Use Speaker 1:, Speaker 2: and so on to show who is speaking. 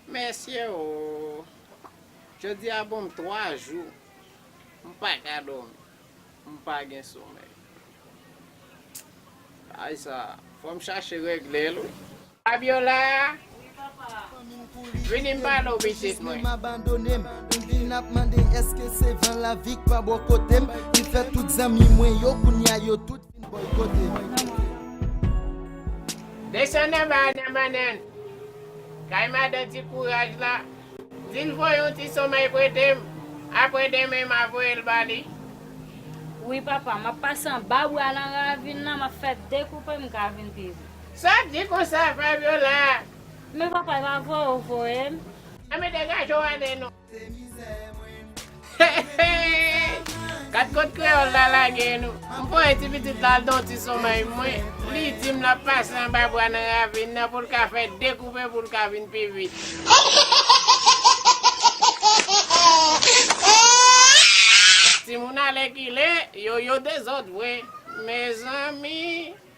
Speaker 1: Mèsi
Speaker 2: ooh Jodi a bon m 3 jou m paka dòmi m pa gen somèy Bagay sa fò m chache regle l wi. Fabiola
Speaker 1: vini m pale w pitit mwen. Desann anba a nan bannann. Kay madan ti kouraj la. Di l voye
Speaker 2: yon ti somèy prete m. Aprè demen m a voye l ba li. Wi
Speaker 3: papa, m ap pase anba bwa nan ravin nan, m ap fè dekoupe m ka vin pi vit. Sa di konsa
Speaker 2: Fabiola. Men papa
Speaker 3: epa voye ou voyem. An men degaje
Speaker 2: w ane nou. Heheheh Kat kot kreyol la lage nou. M voye ti pitit la al don ti somèy mwen li dim lap pase anba bwa nan ravin nan poul ka fè 2 koupe poul ka vin pi vit. Timoun alèkile yo yo dezòd vre mezanmi.